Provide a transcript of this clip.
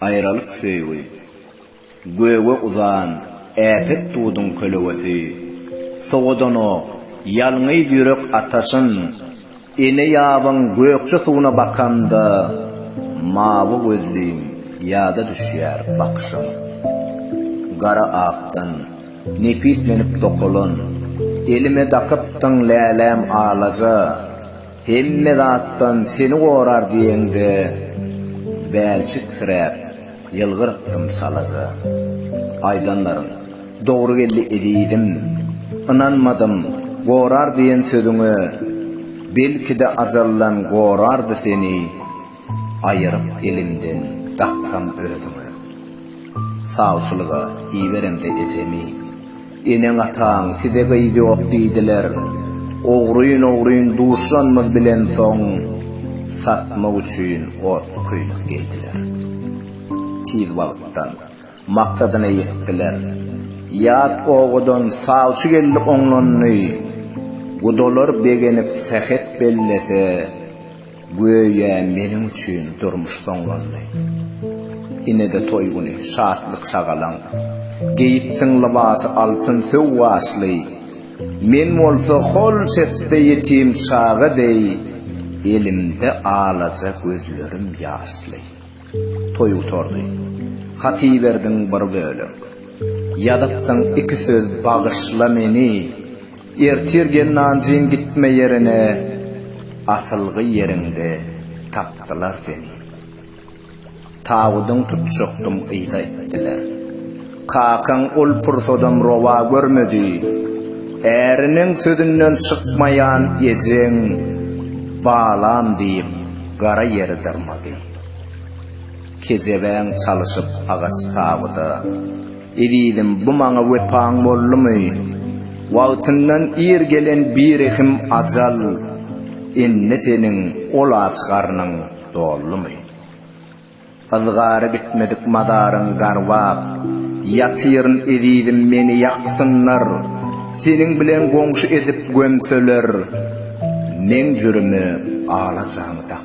Aýralyk söýgi, göge uzan äpet duduň kölegesi, Sowadanok, ýalňyz ýürek ataşyn, Ene ýabyň gökje suwuna bakanda, Mawy gözlim, ýada düşýär bakyşyň. Gara akdan, nepislenip dokalan, Elime dakypdyň läläm alaja, Hemme zatdan seni gorar diýeňde, bälçiksiräp, ýylgyrypdym çalaja. Aýdanlaryň dogry geldi ezizim, ynanmadym gorar diýen sözüňe, belki-de ajaldan gorardy seni. Aýyryp eliňden daksam özüňe. Sawçylyga iberemde ejemi. Eneň-ataň size gyz ýok diýdiler. Ogryn-ogryn duşanymyz bilen soň, satmak üçin otly köýnek geýdiler. Tiz wagtdan maksadyna ýetdiler. Ýat obadan sawçy geldi oňlandy. Gudalar begenip sähet bellese. Göýä meniň üçin durmuş soňlandy. Ine-de toý güni, şatlyk-şagalaň. Geýipsiň lybasy altyn söw gaşly. Men bolsa hol çetde ýetim çaga deý, elimde alaja gözlerim ýaşly. Toý gutardy. Hat iberdiň bir bölek. Ýazypsyň iki söz Bagyşla meni, Ertir gel Nanjing gitme ýerine asylgy ýeriňde tapdylar seni Tabydyň tutjakdym yza itdiler Kakaň ol pursadam rowa görmedi Äriniň sözünden çykmaýan ejeň Balam diýip gara ýeri dyrmady Kejebäň çalyşyp agaç tabyda Ezizim, bu maňa wepaň boldumy? Wagtyndan ir gelen birehim ajal, Indi seniň ol aç garnyň doldumy? Yzgary bitmedik mazaryň garbap ýatyryn Ezizim, meni ýaksynlar, seniň bilen goňşy edip gömseler, Meň jürimi alajamy dakdylar?